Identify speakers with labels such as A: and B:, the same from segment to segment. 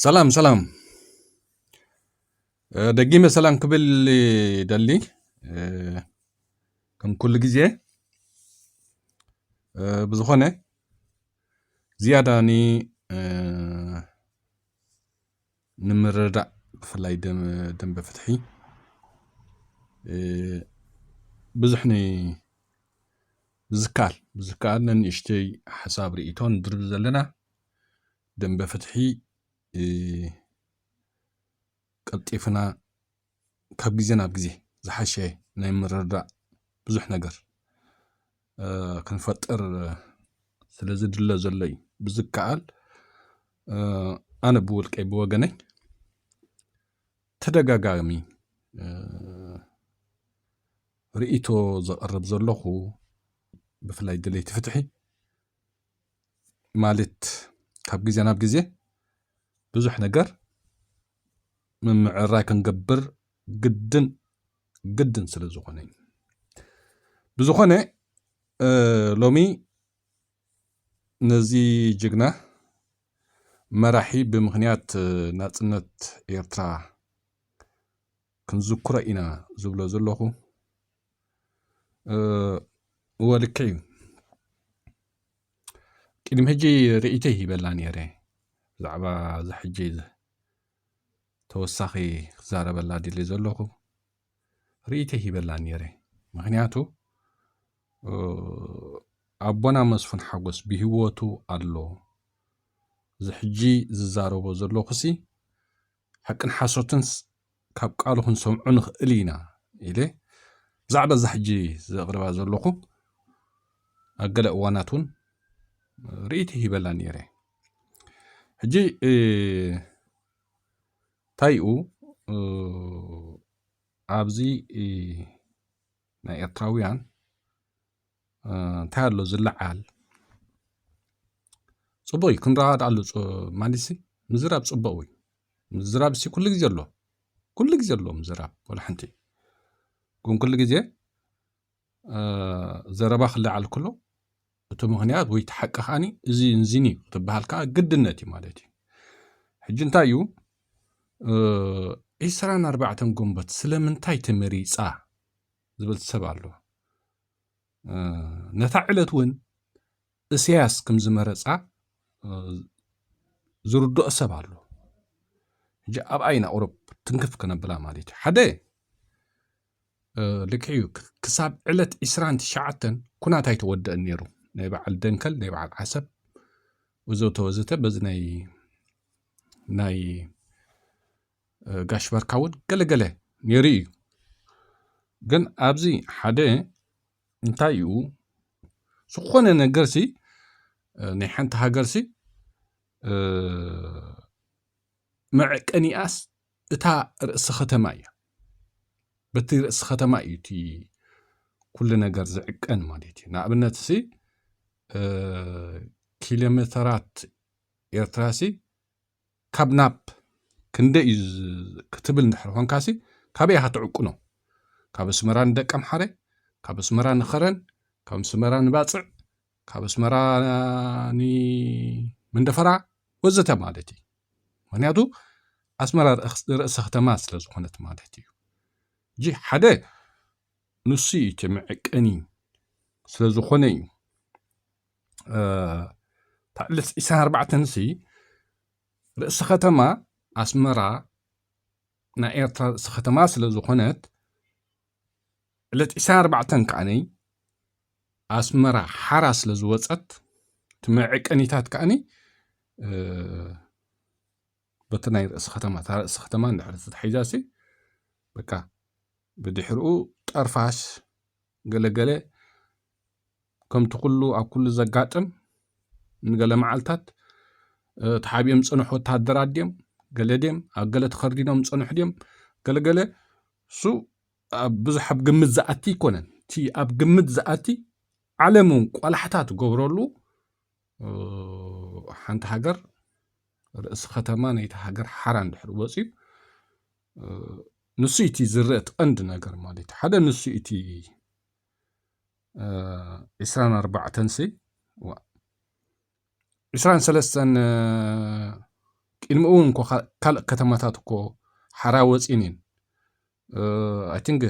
A: ሰላም ሰላም ደጊመ ሰላም ክብል ደሊ ከም ኩሉ ግዜ ብዝኾነ ዝያዳ ኒ ንምርዳእ ብፍላይ ደንበ ፍትሒ ብዙሕ ኒ ብዝከኣል ብዝከኣል ነንእሽተይ ሓሳብ ርእይቶን ንድርቢ ዘለና ደምበ ፍትሒ ቀልጢፍና ካብ ግዜ ናብ ግዜ ዝሓሸ ናይ ምርድዳእ ብዙሕ ነገር ክንፈጥር ስለ ዝድለ ዘሎ እዩ ብዝከኣል ኣነ ብውልቀይ ብወገነይ ተደጋጋሚ ርእይቶ ዘቕርብ ዘለኹ ብፍላይ ድለይቲ ፍትሒ ማለት ካብ ግዜ ናብ ግዜ ብዙሕ ነገር ምምዕራይ ክንገብር ግድን ግድን ስለ ዝኾነ እዩ ብዝኾነ ሎሚ ነዚ ጅግና መራሒ ብምኽንያት ናፅነት ኤርትራ ክንዝክሮ ኢና ዝብሎ ዘለኹ እወ ልክዕ እዩ ቅድሚ ሕጂ ርእይቶ ይሂበላ ነይረ ብዛዕባ እዚ ሕጂ ተወሳኺ ክዛረበላ ድል ዘለኹ ርእይቶ ይሂበላ ነይረ ምክንያቱ ኣቦና መስፉን ሓጎስ ብህወቱ ኣሎ እዚ ሕጂ ዝዛረቦ ዘለኹሲ ሓቅን ሓሶትንስ ካብ ቃሉ ክንሰምዖ ንኽእል ኢና ኢለ ብዛዕባ እዛ ሕጂ ዘቕርባ ዘለኹ ኣብ ገለ እዋናት እውን ርእይቲ ሂበላ ነይረ ሕጂ ታይኡ ኣብዚ ናይ ኤርትራውያን እንታይ ኣሎ ዝለዓል ፅቡቅ እዩ ክንረዳዳኣሉ ማለት ሲ ምዝራብ ፅቡቅ እዩ ምዝራብ ሲ ኩሉ ግዜ ኣሎ ኩሉ ግዜ ኣሎ ምዝራብ ዋላ ሓንቲ ግን ኩሉ ግዜ ዘረባ ክለዓል ከሎ እቲ ምክንያት ወይ እቲ ሓቂ ከዓኒ እዝን እዝን እዩ ክትበሃል ከዓ ግድነት እዩ ማለት እዩ ሕጂ እንታይ እዩ ዒስራን ኣርባዕተን ግንቦት ስለምንታይ ተመሪፃ? ዝበል ሰብ ኣሎ ነታ ዕለት እውን እስያስ ከም ዝመረፃ ዝርድኦ ሰብ ኣሎ ሕጂ ኣብኣ ኢና ቁረብ ትንክፍ ክነብላ ማለት እዩ ሓደ ልክዕ እዩ ክሳብ ዕለት 2 ትሽዓተን ኩናት ኣይተወደአን ነይሩ ናይ በዓል ደንከል ናይ በዓል ዓሰብ ወዘተ ወዘተ በዚ ናይ ናይ ጋሽ ባርካ እውን ገለገለ ነይሩ እዩ ግን ኣብዚ ሓደ እንታይ እዩ ዝኾነ ነገርሲ ናይ ሓንቲ ሃገርሲ መዕቀኒኣስ እታ ርእሲ ከተማ እያ በቲ ርእሲ ከተማ እዩ እቲ ኩሉ ነገር ዝዕቀን ማለት እዩ ንኣብነት ሲ ኪሎሜተራት ኤርትራሲ ካብ ናብ ክንደይ እዩ ክትብል እንድሕር ኾንካሲ ካበይ ኢኻ ትዕቁኖ? ካብ ኣስመራ ንደቀምሓረ፣ ካብ ኣስመራ ንኸረን፣ ካብ ኣስመራ ንባጽዕ፣ ካብ ኣስመራ ንመንደፈራ ወዘተ ማለት እዩ። ምክንያቱ ኣስመራ ርእሰ ከተማ ስለ ዝኾነት ማለት እዩ። እጂ ሓደ ንሱ እዩ እቲ መዕቀኒ ስለ ዝኾነ እዩ። ታዕልስ ኢሳን ኣርባዕተንሲ ርእሲ ከተማ ኣስመራ ናይ ኤርትራ ርእሲ ከተማ ስለ ዝኾነት ዕለት ኢሳን ኣርባዕተን ከዓነይ ኣስመራ ሓራ ስለ ዝወፀት እቲ መዕቀኒታት ከዓኒ በቲ ናይ ርእሲ ከተማ እታ ርእሲ ከተማ እንድሕር ተታሒዛሲ በቃ ብድሕርኡ ጠርፋስ ገለገለ ከምቲ ኩሉ ኣብ ኩሉ ዘጋጥም ንገለ መዓልታት ተሓቢኦም ዝፀንሑ ወታደራት ድም ገለ ድም ኣብ ገለ ተኸርዲኖም ዝፀንሑ ድም ገለገለ እሱ ብዙሕ ኣብ ግምት ዝኣቲ ኣይኮነን እቲ ኣብ ግምት ዝኣቲ ዓለም እውን ቆላሕታ ትገብረሉ ሓንቲ ሃገር ርእሲ ከተማ ናይቲ ሃገር ሓራ እንድሕር ወፅዩ ንሱ እቲ ዝርአ እቲ ቀንዲ ነገር ማለት ሓደ ንሱ እቲ ዕስራን ኣርባዕተን ሲ ዋእ ዕስራን ሰለስተን ቅድሚ እውን እኮ ካልእ ከተማታት እኮ ሓራ ወፂን እየን ኣይ ቲንክ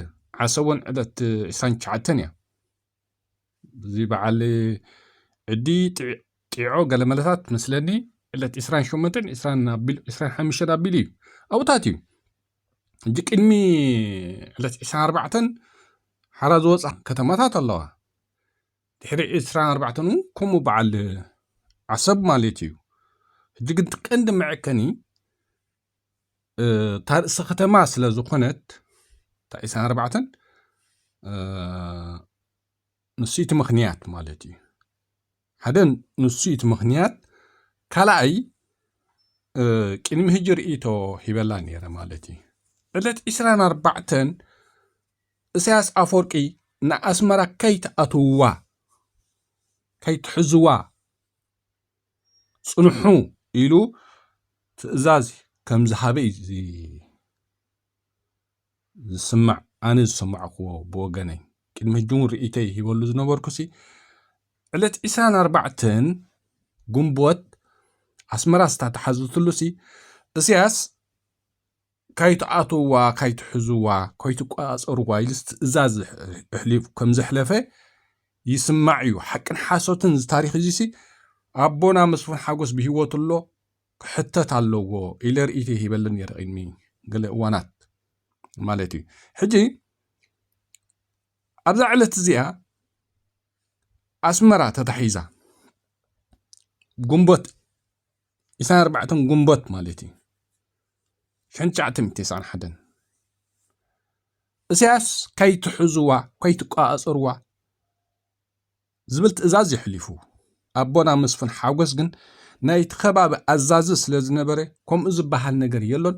A: ዓሰቦን ዕለት ዕስራን ትሽዓተን እያ እዚ በዓል ዕዲ ጢዖ ገለመለታት መስለኒ ዕለት ዕስራን ሸሞንተን ዕስራን ሓሙሽተን ኣቢሉ እዩ ኣብታት እዩ ሕጂ ቅድሚ ዕለት ዕስራን ኣርባዕተን ሓራ ዝወፃ ከተማታት ኣለዋ ድሕሪ ዕስራን ኣርባዕተን እውን ከምኡ በዓል ዓሰብ ማለት እዩ ሕጂ ግን እቲ ቀንዲ መዐቀኒ እታ ርእሰ ከተማ ስለ ዝኾነት እታ ዕስራን ኣርባዕተን ንሱ እቲ ምኽንያት ማለት እዩ ሓደ ንሱ እዩ እቲ ምኽንያት፣ ካልኣይ ቅድሚ ህጂ ርእይቶ ሂበላ ነይረ ማለት እዩ። ዕለት ዕስራን ኣርባዕተን እሳያስ ኣፎርቂ ንኣስመራ ከይትኣትውዋ ከይትሕዝዋ ጽንሑ ኢሉ ትእዛዝ ከም ዝሃበ እዩ ዝስማዕ ኣነ ዝሰማዕክዎ ብወገነይ ቅድሚ ሕጂ እውን ርእይተይ ሂበሉ ዝነበርኩሲ ዕለት ዒስራን ኣርባዕተን ግንቦት ኣስመራ ዝተተሓዘትሉሲ እስያስ ካይትኣትውዋ ካይትሕዝዋ ካይትቆጻጸርዋ ኢልስ ትእዛዝ ኣሕሊፉ ከም ዘሕለፈ ይስማዕ እዩ ሓቅን ሓሶትን እዚ ታሪክ እዚሲ ኣቦና መስፍን ሓጎስ ብሂወት ኣሎ ክሕተት ኣለዎ ኢለ ርእይቶይ ሂበሉ ነይረ ቅድሚ ገለ እዋናት ማለት እዩ ሕጂ ኣብዛ ዕለት እዚኣ ኣስመራ ተታሒዛ ግንቦት ኢሳን ኣርባዕተን ግንቦት ማለት እዩ ሽሕን ትሽዓተ ሚእቲ ተስዓን ሓደን እሳያስ ከይትሕዝዋ ከይትቋፀርዋ ዝብል ትእዛዝ የሕሊፉ። ኣቦና መስፍን ሓጎስ ግን ናይቲ ከባቢ ኣዛዚ ስለ ዝነበረ ከምኡ ዝበሃል ነገር የሎን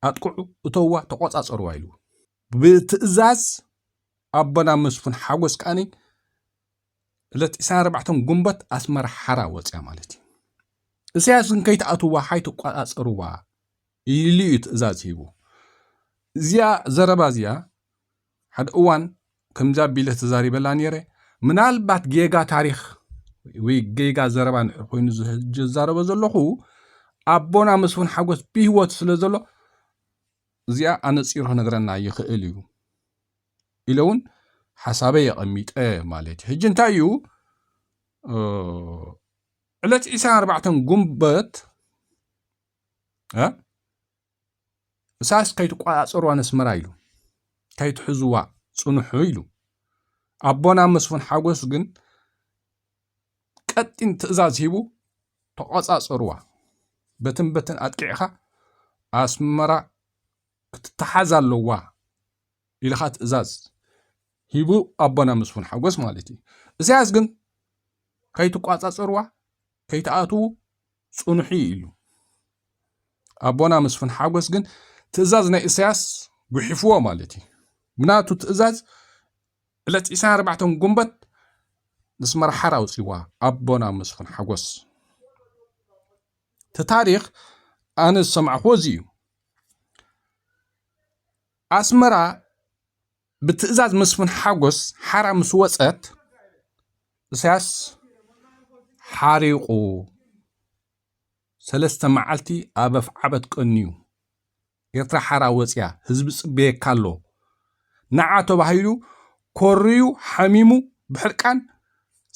A: ኣጥቅዑ እተውዋ ተቖጻጸርዋ ኢሉ። ብትእዛዝ ኣቦና መስፍን ሓጎስ ከኣ ዕለት ዕስራን ኣርባዕተን ግንቦት ኣስመራ ሓራ ወጽያ ማለት እዩ። እሰያስ ግን ከይትኣትዋ ሓይ ትቆጻጸርዋ ኢሉ እዩ ትእዛዝ ሂቡ። እዚኣ ዘረባ እዚኣ ሓደ እዋን ከምዚ ኣቢለ ተዛሪበላ ነይረ። ምናልባት ጌጋ ታሪኽ ወይ ጌጋ ዘረባ ንድሕር ኮይኑ ዝዛረበ ዘለኹ ኣቦና መስፍን ሓጎስ ብህይወት ስለ ዘሎ እዚኣ ኣነፂሩ ክነግረና ይኽእል እዩ ኢለ እውን ሓሳበይ የቐሚጠ ማለት እዩ ሕጂ እንታይ እዩ ዕለት 24 ጉንበት እሳስ ከይትቆጻጸርዋ ነስመራ ኢሉ ከይትሕዝዋ ጽንሑ ኢሉ ኣቦና መስፉን ሓጎስ ግን ቀጢን ትእዛዝ ሂቡ ተቆጻጸርዋ በትን በትን ኣጥቂዕኻ ኣስመራ ክትተሓዝ ኣለዋ ኢልኻ ትእዛዝ ሂቡ ኣቦና መስፉን ሓጎስ ማለት እዩ እሳያስ ግን ከይትቋጻጸርዋ ከይትኣትዉ ጽኑሑ ኢሉ። ኣቦና መስፍን ሓጎስ ግን ትእዛዝ ናይ እሰያስ ጉሒፍዎ ማለት እዩ። ብናቱ ትእዛዝ ዕለት ዕስራን ኣርባዕተን ጉንበት ንስመራ ሓራ ኣውጺዋ ኣቦና መስፍን ሓጎስ። እቲ ታሪኽ ኣነ ዝሰማዕክዎ እዚ እዩ። ኣስመራ ብትእዛዝ መስፍን ሓጎስ ሓራ ምስ ወፀት እሳያስ ሓሪቑ ሰለስተ መዓልቲ ኣብ ኣፍዓበት ቀንዩ ኤርትራ ሓራ ወፅያ ህዝቢ ፅበየካ ኣሎ ንዓ ተባሂሉ ኮርዩ ሓሚሙ ብሕርቃን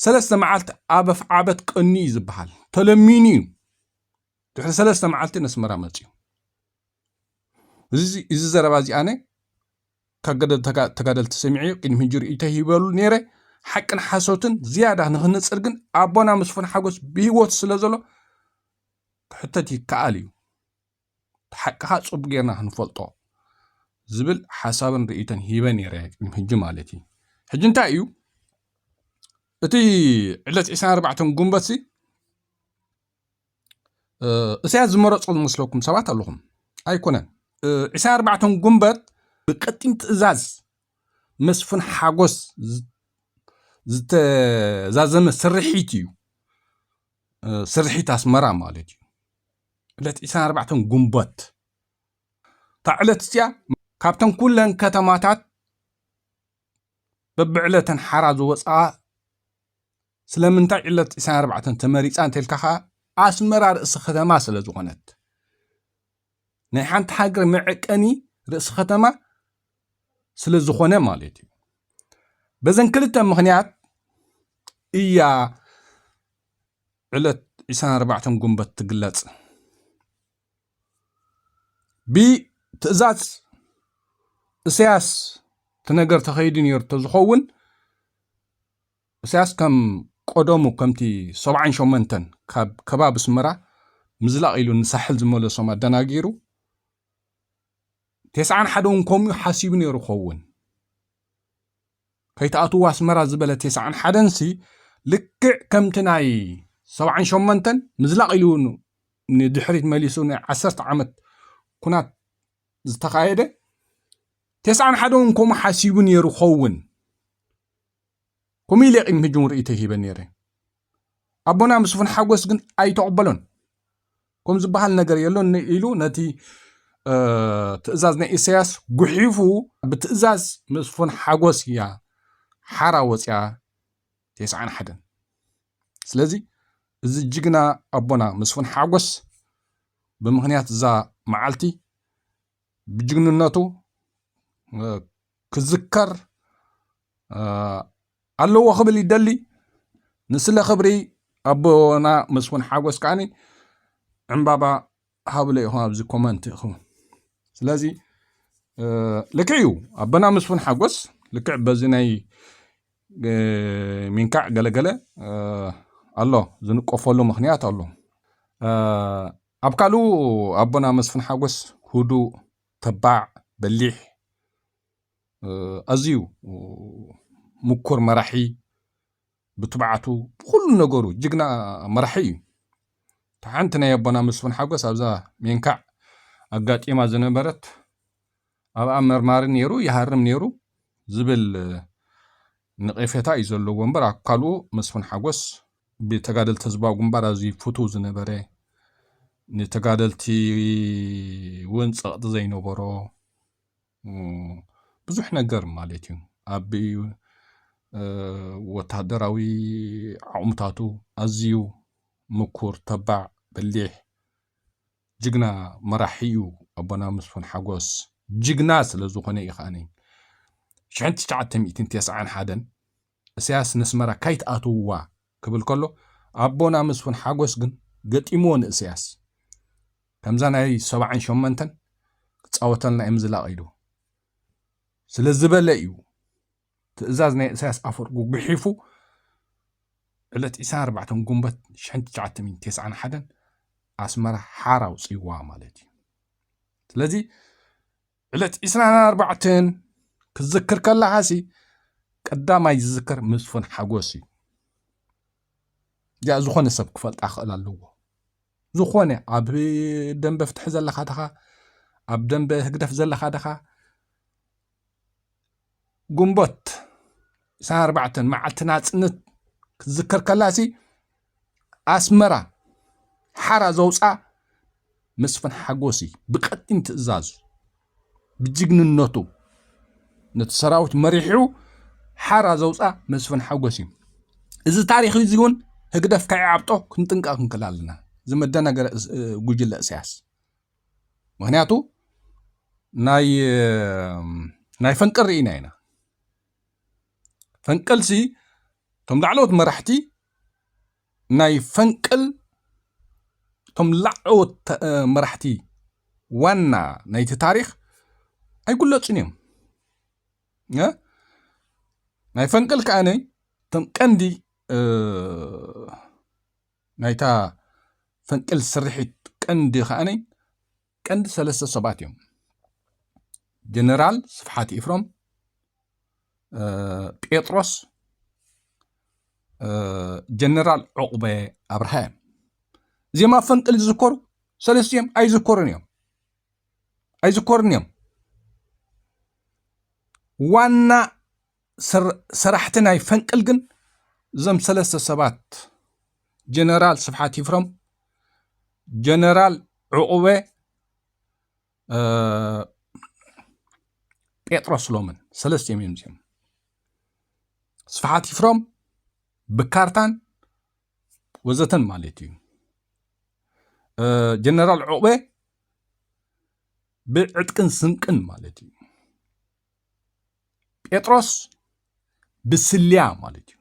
A: ሰለስተ መዓልቲ ኣብ ኣፍዓበት ቀንዩ እዩ ዝበሃል ተለሚኑ እዩ ድሕሪ ሰለስተ መዓልቲ ነስመራ መፅዩ እዚ ዘረባ እዚኣነ ተጋደልቲ ሰሚዐዮ ቅድሚ ሕጂ ርእይቶይ ሂበሉ ነይረ ሓቅን ሓሶትን ዝያዳ ንክንጽር ግን ኣቦና ምስፉን ሓጎስ ብህይወት ስለ ዘሎ ክሕተት ይከኣል እዩ ሓቅኻ ጽቡቅ ጌርና ክንፈልጦ ዝብል ሓሳብን ርእይቶን ሂበ ነይረ ቅድሚ ሕጂ ማለት እዩ ሕጂ እንታይ እዩ እቲ ዕለት 24 ጉንበትሲ እሳያስ ዝመረጾ ዝመስለኩም ሰባት ኣለኹም ኣይኮነን ዕስራ ኣርባዕተን ጉንበት ብቀጢን ትእዛዝ መስፍን ሓጎስ ዝተዛዘመ ስርሒት እዩ ስርሒት ኣስመራ ማለት እዩ ዕለት ዕስራ ኣርባዕተን ጉንበት እታ ዕለት እዚኣ ካብተን ኩለን ከተማታት በብዕለተን ሓራ ዝወፅኣ ስለምንታይ ዕለት ዕስራን ኣርባዕተን ተመሪጻ እንተልካ ከኣ ኣስመራ ርእሲ ከተማ ስለ ዝኾነት ናይ ሓንቲ ሃገር መዕቀኒ ርእሲ ከተማ ስለ ዝኾነ ማለት እዩ በዘን ክልተ ምክንያት እያ ዕለት 24 ጉንበት ትግለጽ ብትእዛዝ እሰያስ እቲ ነገር ተኸይዱ ነይሩ ዝኸውን እሳያስ ከም ቆደሙ ከምቲ ሰብዓን ሸሞንተን ካብ ከባቢ ኣስመራ ምዝላቕ ኢሉ ንሳሕል ዝመለሶም ኣደናጊሩ ቴስዓን ሓደውን ከምኡ ሓሲቡ ነይሩ ኸውን ከይትኣትዎ ኣስመራ ዝበለ ቴስዓን ሓደንሲ ልክዕ ከምቲ ናይ ሰብዓን ሸሞንተን ምዝላቕ ኢሉ ንድሕሪት መሊሱ ናይ ዓሰርተ ዓመት ኩናት ዝተኻየደ ቴስዓን ሓደውን ከምኡ ሓሲቡ ነይሩ ኸውን ከምኡ ኢለ ቅድሚ ሕጂ እውን ርእይቶ ሂበ ነይረ። ኣቦና ምስፉን ሓጎስ ግን ኣይተቐበሎን። ከም ዝበሃል ነገር የሎን ኢሉ ነቲ ትእዛዝ ናይ ኢሳያስ ጉሒፉ ብትእዛዝ ምስፉን ሓጎስ እያ ሓራ ወፅያ ቴስዓን ሓደን ስለዚ እዚ ጅግና ኣቦና መስፍን ሓጎስ ብምክንያት እዛ መዓልቲ ብጅግንነቱ ክዝከር ኣለዎ ክብል ይደሊ ንስለ ክብሪ ኣቦና መስፍን ሓጎስ ከዓኒ ዕምባባ ሃብለ ኢኹም ኣብዚ ኮመንት ኢኹም ስለዚ ልክዕ እዩ ኣቦና መስፍን ሓጎስ ልክዕ በዚ ናይ ሚንካዕ ገለገለ ኣሎ ዝንቆፈሉ ምክንያት ኣሎ ኣብ ካልኡ ኣቦና መስፍን ሓጎስ ህዱእ ተባዕ፣ በሊሕ፣ ኣዝዩ ምኩር መራሒ ብትብዓቱ ብኩሉ ነገሩ ጅግና መራሒ እዩ። እታ ሓንቲ ናይ ኣቦና መስፍን ሓጎስ ኣብዛ ሜንካዕ ኣጋጢማ ዝነበረት ኣብኣ መርማሪ ነይሩ ይሃርም ነይሩ ዝብል ንቄፌታ እዩ ዘለዎ እምበር ኣብ ካልኡ መስፉን ሓጎስ ብተጋደልቲ ህዝባዊ ግንባር ኣዝዩ ፍቱው ዝነበረ ንተጋደልቲ እውን ጸቕጢ ዘይነበሮ ብዙሕ ነገር ማለት እዩ ኣብ ወተሃደራዊ ዓቕምታቱ ኣዝዩ ምኩር ተባዕ በሊሕ ጅግና መራሒ እዩ ኣቦና መስፉን ሓጎስ ጅግና ስለ ዝኾነ እዩ ከኣ ሽሕን ትሽዓተ ሚእትን ቴስዓን ሓደን እሰያስ ነስመራ ካይትኣትውዋ ክብል ከሎ ኣቦና መስፉን ሓጎስ ግን ገጢምዎ ንእሰያስ ከምዛ ናይ ሰብዓን ሸመንተን ክጻወተልና እየ ምዝላቕ ኢሉ ስለ ዝበለ እዩ ትእዛዝ ናይ እሳያስ ኣፈወርቂ ጉሒፉ ዕለት ዕስራን ኣርባዕተን ጉንበት ሽሕን ትሽዓተ ሚእትን ተስዓን ሓደን ኣስመራ ሓራ ኣውፅዋ ማለት እዩ ስለዚ ዕለት ዕስራን ኣርባዕተን ክትዝክር ከለኻሲ ቀዳማይ ዝዝከር መስፍን ሓጎስ እዩ እዚኣ ዝኾነ ሰብ ክፈልጣ ክኽእል ኣለዎ ዝኾነ ኣብ ደንበ ፍትሒ ዘለኻ ድኻ ኣብ ደንበ ህግደፍ ዘለኻ ድኻ ግንቦት ዕስራን ኣርባዕተን መዓልቲ ናጽነት ክትዝከር ከላሲ ኣስመራ ሓራ ዘውፅኣ መስፍን ሓጎሲ ብቀጢን ትእዛዙ ብጅግንነቱ ነቲ ሰራዊት መሪሑ ሓራ ዘውፅኣ መስፍን ሓጎሲ እዩ እዚ ታሪክ እዚ እውን ህግደፍ ከይዓብጦ ክንጥንቀቅ ክንክል ኣለና ዝመደናገረ ጉጅለ እስያስ ምክንያቱ ናይ ናይ ፈንቅል ርኢና ኢና ፈንቅልሲ እቶም ላዕለዎት መራሕቲ ናይ ፈንቅል እቶም ላዕለዎት መራሕቲ ዋና ናይቲ ታሪክ ኣይጉለፁን እዮም ናይ ፈንቅል ከዓነ እቶም ቀንዲ ናይታ ፈንቅል ስርሒት ቀንዲ ከኣ ቀንዲ ሰለስተ ሰባት እዮም። ጀነራል ስፍሓት ኢፍሮም፣ ጴጥሮስ፣ ጀነራል ዑቕበ ኣብርሃ እዮም። እዚኦም ኣብ ፈንቅል ዝዝከሩ ሰለስቲኦም ኣይዝከሩን እዮም ኣይዝከሩን እዮም ዋና ሰራሕቲ ናይ ፈንቅል ግን እዞም ሰለስተ ሰባት ጀነራል ስብሓት ይፍረም፣ ጀነራል ዕቑበ ጴጥሮስ ሎምን ሰለስቲኦም እዮም እዚኦም ስፍሓት ይፍሮም ብካርታን ወዘተን ማለት እዩ ጀነራል ዑቕበ ብዕጥቅን ስንቅን ማለት እዩ ጴጥሮስ ብስልያ ማለት እዩ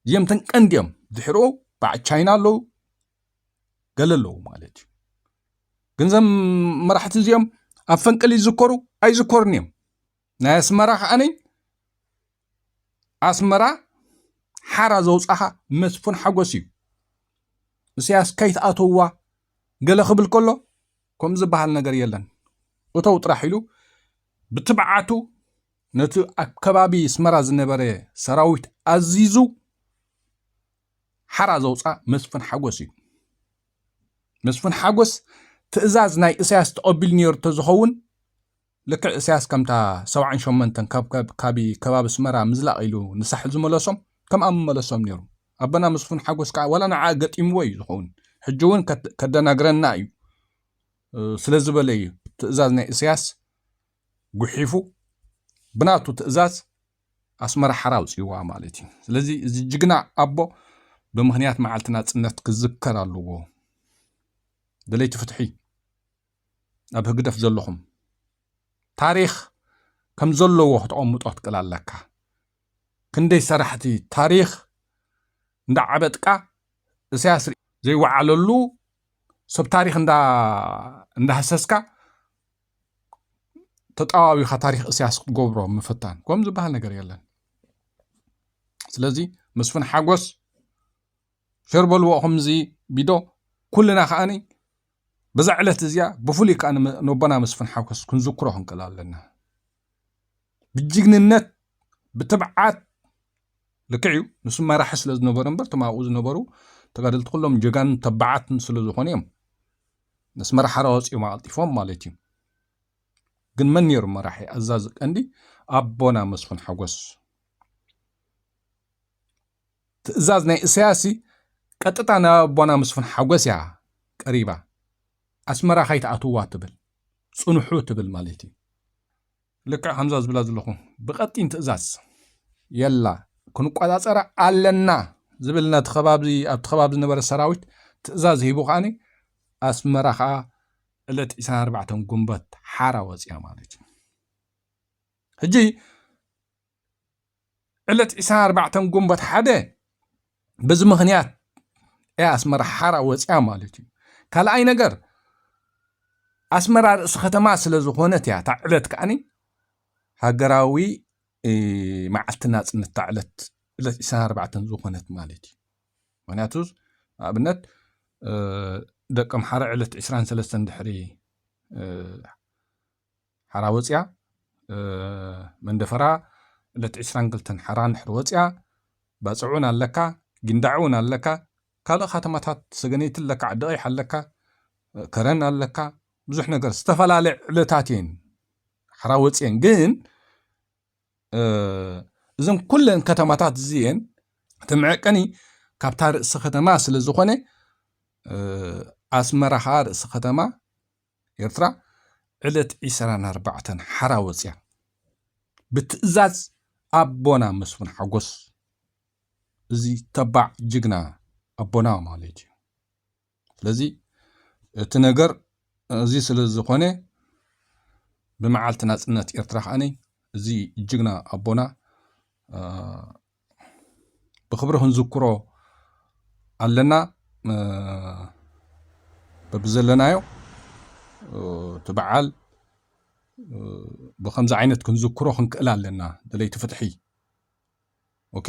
A: እዚኦም ተን ቀንዲ እዮም ድሕሩ በዓል ቻይና ኣለዉ ገለ ኣለዉ ማለት እዩ ግን ዘም መራሕቲ እዚኦም ኣብ ፈንቅል ይዝከሩ ኣይዝከሩን እዮም ናይ ኣስመራ ከዓኒ ኣስመራ ሓራ ዘውፃኻ መስፉን ሓጎስ እዩ እስያስ ከይትኣተዋ ገለ ክብል ከሎ ከምኡ ዝበሃል ነገር የለን። እተው ጥራሕ ኢሉ ብትብዓቱ ነቲ ኣብ ከባቢ ኣስመራ ዝነበረ ሰራዊት ኣዚዙ ሓራ ዘውፅኣ መስፍን ሓጎስ እዩ። መስፍን ሓጎስ ትእዛዝ ናይ እሳያስ ተቐቢሉ ነይሩ ተዝኸውን ልክዕ እሰያስ ከምታ ሰብዓን ሸሞንተን ከብከብ ካቢ ከባቢ ኣስመራ ምዝላቕ ኢሉ ንሳሕል ዝመለሶም ከምኣ ምመለሶም ኔሩ ኣቦና መስፉን ሓጎስ ከኣ ዋላ ንዓ ገጢምዎ እዩ ዝኸውን ሕጂ ውን ከደናግረና እዩ ስለ ዝበለ እዩ ትእዛዝ ናይ እሰያስ ጉሒፉ ብናቱ ትእዛዝ ኣስመራ ሓራ ኣውጽእዋ ማለት እዩ ስለዚ እዚ ጅግና ኣቦ ብምክንያት መዓልቲ ናጽነት ክዝከር ኣለዎ ደለይቲ ፍትሒ ኣብ ህግደፍ ዘለኹም ታሪኽ ከም ዘለዎ ክተቐምጦ ክትክእል ኣለካ ክንደይ ሰራሕቲ ታሪኽ እንዳ ዓበጥቃ እሳያስ ዘይወዓለሉ ሰብ ታሪኽ እንዳ እንዳህሰስካ ተጣዋዊኻ ታሪኽ እሳያስ ክትገብሮ ምፍታን ከም ዝበሃል ነገር የለን ስለዚ መስፍን ሓጎስ ሸር በልዎ ከምዚ ቢዶ ኩልና ከዓኒ በዛ ዕለት እዚኣ ብፍሉይ ከዓ ነቦና መስፍን ሓጎስ ክንዝክሮ ክንክእል ኣለና ብጅግንነት ብትብዓት ልክዕ እዩ ንሱ መራሒ ስለ ዝነበረ እምበር እቶም ኣብኡ ዝነበሩ ተጋደልቲ ኩሎም ጀጋንን ተባዓትን ስለ ዝኾኑ እዮም መስመር ሓራ ወፂኦም ኣቐልጢፎም ማለት እዩ ግን መን ነይሩ መራሒ ኣዛዚ ቀንዲ ኣቦና መስፍን ሓጎስ ትእዛዝ ናይ እሰያስሲ ቀጥታ ናብ ኣቦና ምስፉን ሓጎስ እያ ቀሪባ ኣስመራ ካይትኣትውዋ ትብል ጽንሑ ትብል ማለት እዩ ልክዕ ከምዛ ዝብላ ዘለኹ ብቀጢን ትእዛዝ የላ ክንቆጻጸራ ኣለና ዝብል ነቲ ከባቢ ኣብቲ ከባቢ ዝነበረ ሰራዊት ትእዛዝ ሂቡ ከዓኒ ኣስመራ ከዓ ዕለት 24 ጉንበት ሓራ ወፅያ ማለት እዩ ሕጂ ዕለት ዕስራን ኣርባዕተን ግንቦት ሓደ በዚ ምኽንያት እያ ኣስመራ ሓራ ወፅያ ማለት እዩ ካልኣይ ነገር ኣስመራ ርእሲ ከተማ ስለ ዝኾነት እያ እታ ዕለት ከዓኒ ሃገራዊ መዓልቲ ናፅነት እታ ዕለት ዕለት ዕስራን ኣርባዕተን ዝኾነት ማለት እዩ ምክንያቱ ንኣብነት ደቂ ኣምሓራ ዕለት ዕስራን ሰለስተን ድሕሪ ሓራ ወጽያ መንደፈራ ዕለት ዕስራን ክልተን ሓራ እንድሕር ወጽያ ባጽዕውን ኣለካ ጊንዳዕውን ኣለካ ካልእ ካተማታት ሰገነይቲ ኣለካ ዓዲ ቀይሕ ኣለካ ከረን ኣለካ ብዙሕ ነገር ዝተፈላለ ዕለታት እየን ሓራ ወጽየን ግን እዘን ኩለን ከተማታት እዚኤን እቲ መዐቀኒ ካብታ ርእሲ ከተማ ስለ ዝኾነ ኣስመራ ከዓ ርእሲ ከተማ ኤርትራ ዕለት ዕሰራን ኣርባዕተን ሓራ ወጽያ ብትእዛዝ ኣቦና መስፍን ሓጎስ እዚ ተባዕ ጅግና ኣቦና ማለት እዩ ስለዚ እቲ ነገር እዚ ስለ ዝኾነ ብመዓልቲ ናጽነት ኤርትራ ከኣኒ እዚ ጅግና ኣቦና ብክብሪ ክንዝክሮ ኣለና በብዘለናዮ እቲ በዓል ብከምዚ ዓይነት ክንዝክሮ ክንክእል ኣለና ደለይቲ ፍትሒ ኦኬ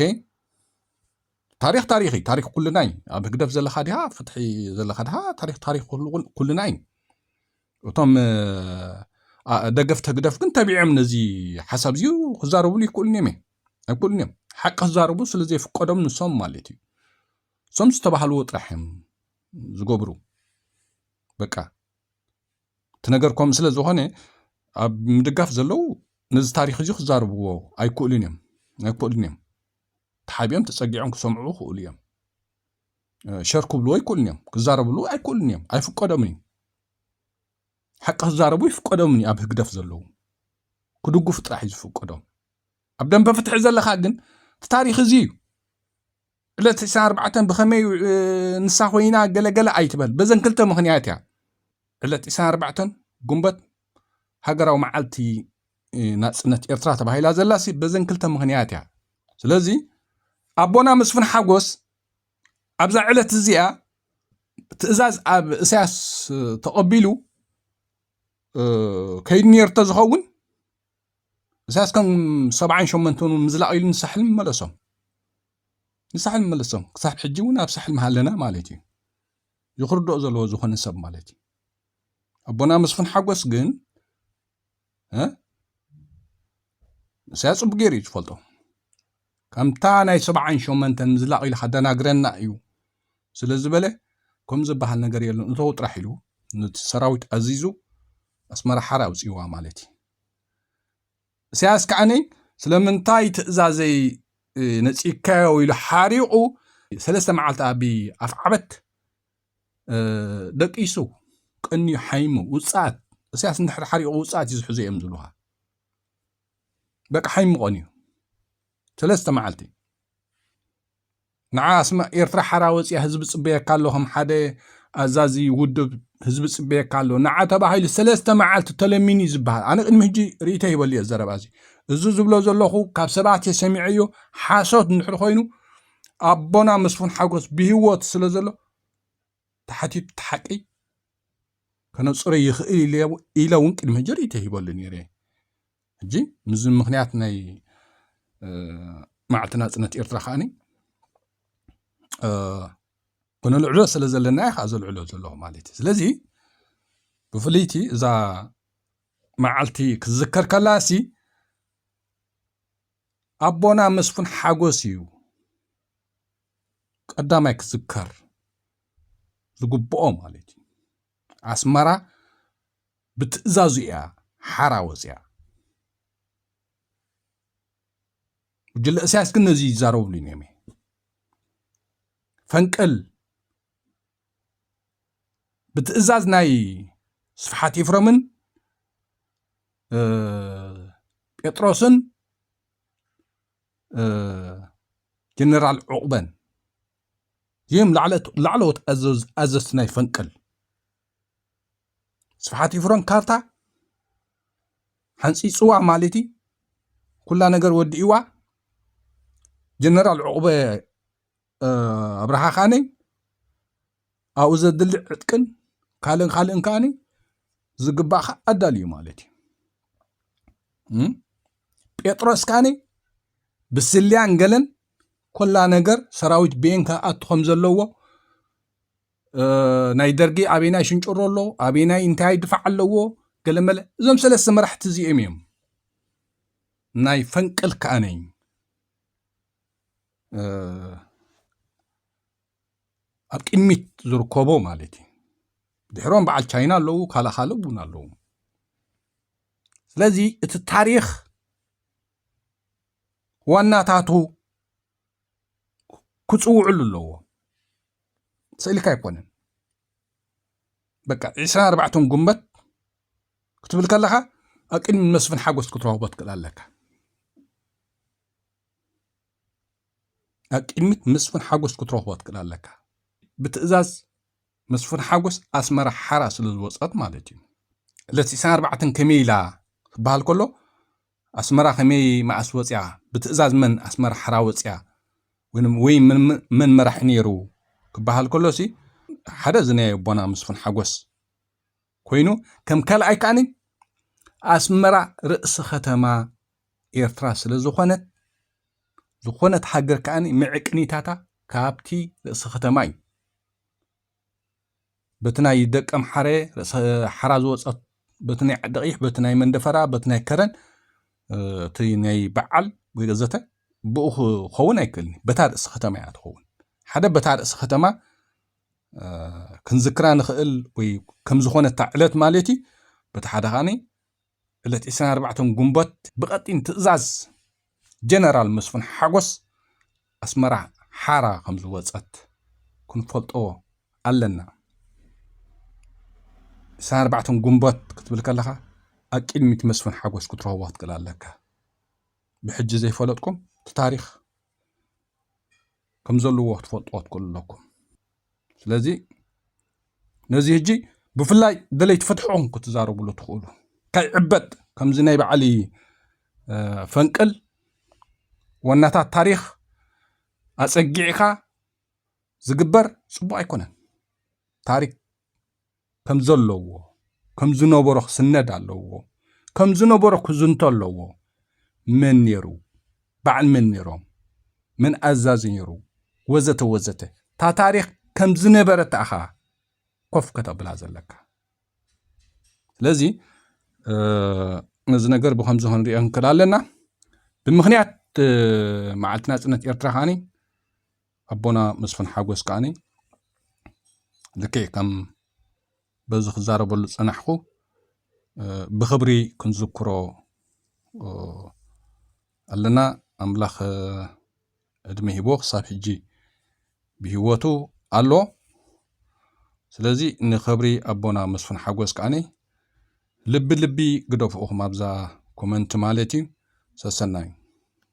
A: ታሪክ ታሪክ እዩ ታሪክ ኩልና እዩ ኣብ ህግደፍ ዘለካ ድሃ ፍትሒ ዘለካ ድሃ ታሪክ ታሪክ ኩልና እዩ እቶም ደገፍቲ ህግደፍ ግን ተቢዖም ነዚ ሓሳብ እዚዩ ክዛረብሉ ይክእሉን እዮም ኣይኮኑን እዮም ሓቂ ክዛረቡ ስለ ዘይፍቀዶም ንሶም ማለት እዩ እሶም ዝተባህልዎ ጥራሕ እዮም ዝገብሩ በቃ እቲ ነገር ከም ስለ ዝኾነ ኣብ ምድጋፍ ዘለው ነዚ ታሪክ እዚ ክዛርብዎ ኣይክእሉን እዮም ኣይክእሉን እዮም ተሓቢኦም ተፀጊዖም ክሰምዑ ክእሉ እዮም ሸር ክብልዎ ኣይክእሉን እዮም ክዛረብሉ ኣይክእሉን እዮም ኣይፍቀዶምን እዩ ሓቂ ክዛረቡ ይፍቀዶምን እዩ ኣብ ህግደፍ ዘለው ክድግፉ ጥራሕ እዩ ዝፍቀዶም ኣብ ደንበ ፍትሒ ዘለካ ግን እቲ ታሪክ እዚ እዩ ዕለት 24 ብከመይ ንሳ ኮይና ገለገለ ኣይትበል በዘን ክልተ ምክንያት እያ ዕለት 24 ጉንበት ሃገራዊ መዓልቲ ናፅነት ኤርትራ ተባሂላ ዘላሲ በዘን ክልተ ምክንያት እያ ስለዚ ኣቦና መስፍን ሓጎስ ኣብዛ ዕለት እዚኣ ትእዛዝ ኣብ እሳያስ ተቐቢሉ ከይዱ ነርቶ ዝኸውን እሳያስ ከም ሰብዓን ሸሞንተን እውን ምዝላቕ ኢሉ ንሳሕል መለሶም ንሳሕል መለሶም ክሳብ ሕጂ እውን ኣብ ሳሕል መሃለና ማለት እዩ ይኽርድኦ ዘለዎ ዝኾነ ሰብ ማለት እዩ ኣቦና መስፍን ሓጎስ ግን እሳያስ ፅቡቅ ገይሩ እዩ ዝፈልጦ ከምታ ናይ ሰብዓን ሾመንተን ምዝላቕ ኢሉ ከደናግረና እዩ ስለ ዝበለ ከም ዝበሃል ነገር የለን እተው ጥራሕ ኢሉ ነቲ ሰራዊት ኣዚዙ ኣስመራ ሓራ ኣውፅእዋ ማለት እዩ እሳያስ ከዓኒ ስለምንታይ ትእዛዘይ ነፂካዮ ኢሉ ሓሪቑ ሰለስተ መዓልቲ ኣብ ኣፍዓበት ደቂሱ ቀንዩ ሓይሙ ውፃት እሳያስ እንድሕር ሓሪቑ ውፃት እዩ ዝሕዙ እዮም ዝብልዋ በቃ ሓይምቆን እዩ ሰለስተ መዓልቲ ንዓ ስማ ኤርትራ ሓራ ወፅያ ህዝቢ ፅበየካ ኣሎ ከም ሓደ ኣዛዚ ውድብ ህዝቢ ፅበየካ ኣሎ ንዓ ተባሂሉ ሰለስተ መዓልቲ ተለሚኑ እዩ ዝበሃል ኣነ ቅድሚ ሕጂ ርእቶ ይበሉ እየ ዘረባ እዚ እዚ ዝብሎ ዘለኹ ካብ ሰባት እየ ሰሚዐዮ ሓሶት እንድሕር ኮይኑ ኣቦና መስፉን ሓጎስ ብሂወት ስለ ዘሎ ተሓቲቱ እቲ ሓቂ ከነፅሮ ይኽእል ኢለ እውን ቅድሚ ሕጂ ርእይቶ ሂበሉ ነይረ ሕጂ ምዚ ምክንያት ናይ መዓልቲ ናፅነት ኤርትራ ከዓኒ ክነልዕሎ ስለ ዘለና እየ ከዓ ዘልዕሎ ዘለኹ ማለት እዩ ስለዚ ብፍልይቲ እዛ መዓልቲ ክዝከር ከላ እሲ ኣቦና መስፍን ሓጎስ እዩ ቀዳማይ ክዝከር ዝግብኦ ማለት እዩ ኣስመራ ብትእዛዙ እያ ሓራ ወፅያ። ጉጅለ እሳያስ ግን ነዚ ይዛረብሉ እዮም ፈንቅል ብትእዛዝ ናይ ስብሓት ኤፍረምን ጴጥሮስን ጀነራል ዑቕበን እዚኦም ላዕለዎት ኣዘዝቲ ናይ ፈንቅል ስብሓት ይፍሮን ካርታ ሓንፂፅዋ ማለት እዩ ኩላ ነገር ወዲእዋ ጀነራል ዕቑበ ኣብርሃ ከኣ ኣብኡ ዘድሊ ዕጥቅን ካልእን ካልእን ከኣ ዝግባእካ ኣዳልዩ ማለት እዩ ጴጥሮስ ከኣ ብስልያን ገለን ኮላ ነገር ሰራዊት ቤን ክኣቱ ከም ዘለዎ ናይ ደርጊ ኣበናይ ሽንጭሮ ኣሎ ኣበናይ እንታይ ድፋዕ ኣለዎ ገለመለ እዞም ሰለስተ መራሕቲ እዚኦም እዮም ናይ ፈንቅል ከኣነይ ኣብ ቅድሚት ዝርከቦ ማለት እዩ ድሕሮም በዓል ቻይና ኣለዉ ካልእ ካልእ እውን ኣለዉ ስለዚ እቲ ታሪክ ዋናታቱ ክፅውዕሉ ኣለዎ ስእልካ ኣይኮነን በቃ ዕስራን ኣርባዕተን ጉንበት ክትብል ከለካ ኣብ ቅድሚ መስፍን ሓጎስ ክትረክቦ ትክእል ኣለካ ኣብ ቅድሚት መስፍን ሓጎስ ክትረኽቦ ትክእል ኣለካ ብትእዛዝ መስፍን ሓጎስ ኣስመራ ሓራ ስለ ዝወፀት ማለት እዩ ዕለት 24 ከመይ ኢላ ክበሃል ከሎ ኣስመራ ከመይ መኣስ ወፅያ ብትእዛዝ መን ኣስመራ ሓራ ወፅያ ወይ መን መራሒ ነይሩ ክበሃል ከሎ ሲ ሓደ ዝናየ ኣቦና መስፍን ሓጎስ ኮይኑ ከም ካልኣይ ከዓኒ ኣስመራ ርእሲ ከተማ ኤርትራ ስለ ዝኾነት ዝኾነት ሃገር ከዓኒ ምዕቅኒታታ ካብቲ ርእሲ ከተማ እዩ በቲ ናይ ደቀ ምሓረ ርእሰ ሓራ ዝወፀት በቲ ናይ ዓደቕይሕ በቲ ናይ መንደፈራ በቲ ናይ ከረን እቲ ናይ በዓል ወይ ዘተ ብኡ ክኸውን ኣይክእልኒ በታ ርእሲ ከተማ እያ ትኸውን ሓደ በታ ርእሲ ከተማ ክንዝክራ ንኽእል ወይ ከም ዝኾነታ ዕለት ማለት እዩ በቲ ሓደ ኸዓኒ ዕለት 24 ግንቦት ብቐጢን ትእዛዝ ጀነራል መስፍን ሓጎስ ኣስመራ ሓራ ከም ዝወፀት ክንፈልጦ ኣለና 24 ግንቦት ክትብል ከለኻ ኣብ ቅድሚት መስፍን ሓጎስ ክትረኽቦ ክትክእል ኣለካ ብሕጂ ዘይፈለጥኩም እቲ ታሪክ ከም ዘለዎ ክትፈልጥዎ ትክእሉ ኣለኩም ስለዚ ነዚ ህጂ ብፍላይ ደለይቲ ፍትሕኹም ክትዛረብሉ ትኽእሉ ከይዕበጥ ከምዚ ናይ በዓሊ ፈንቅል ወናታት ታሪኽ ኣጸጊዕካ ዝግበር ጽቡቅ ኣይኮነን ታሪክ ከም ዘለዎ ከም ዝነበሮ ክስነድ ኣለዎ ከም ዝነበሮ ክዝንቶ ኣለዎ መን ነይሩ በዓል መን ነይሮም መን ኣዛዚ ነይሩ ወዘተ ወዘተ እታ ታሪክ ከም ዝነበረት ኣኻ ኮፍ ከተብላ ዘለካ ስለዚ ነዚ ነገር ብከምዚ ክንሪኦ ንክእል ኣለና ብምክንያት መዓልቲ ናፅነት ኤርትራ ከዓኒ ኣቦና መስፍን ሓጎስ ከኣኒ ልክዕ ከም በዚ ክዛረበሉ ዝጸናሕኩ ብኽብሪ ክንዝክሮ ኣለና ኣምላኽ ዕድመ ሂቦ ክሳብ ሕጂ ብሂወቱ ኣሎ ስለዚ ንኸብሪ ኣቦና መስፍን ሓጎስ ከዓኒ ልቢ ልቢ ግደፍኡኹም ኣብዛ ኮመንቲ ማለት እዩ ሰሰናዩ